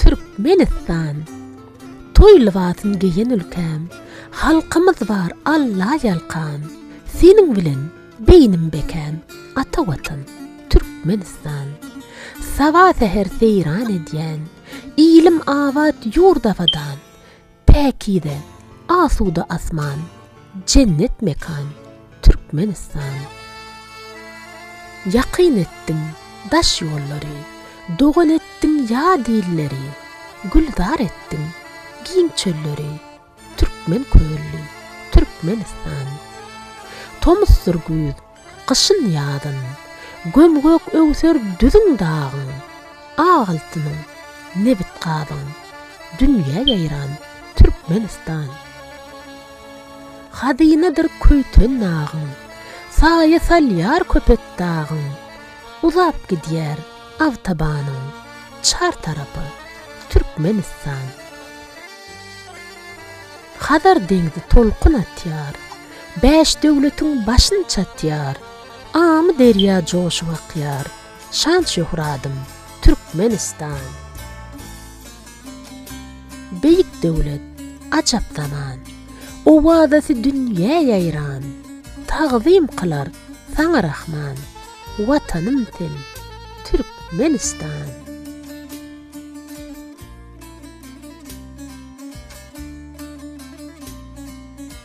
Türkmenistan Toý lybasyn geýen ülkäm Halkymyz bar Alla ýalkan Seniň bilen beýnim bekäm Ata Watan Türkmenistan Saba säher seýran edýän Ilim abat ýurt abadan Päkize, asuda asman, jennet mekan, Türkmenistan! Ýakyn etdiň daş ýollary, dogan etdiň ýat illeri, Gülzar etdiň giň çölleri, türkmen kölli, Türkmenistan! Tomusdyr güýz, Gyşyn-ýazyn, göm-gök öwser düzüň dagyň, Ak altynyň, nebit-gazyň dünýä ýaýran Türkmenistan. Hazynadyr köýten nagyň, saýa salýar Köpetdagyň, Uzap gidýär awtabanyň çar tarapy Türkmenistan. Hazar deňzi tolkun atýar. Bäş döwletiň başyn çatýar, Amyderýa joşup akýar, Şan-şöhradym, Türkmenistan! Beýik döwlet, ajap zaman, Owazasy dünýä ýaýran, Tagzym kylar saňa Rahman, Watanym sen, Türkmenistan!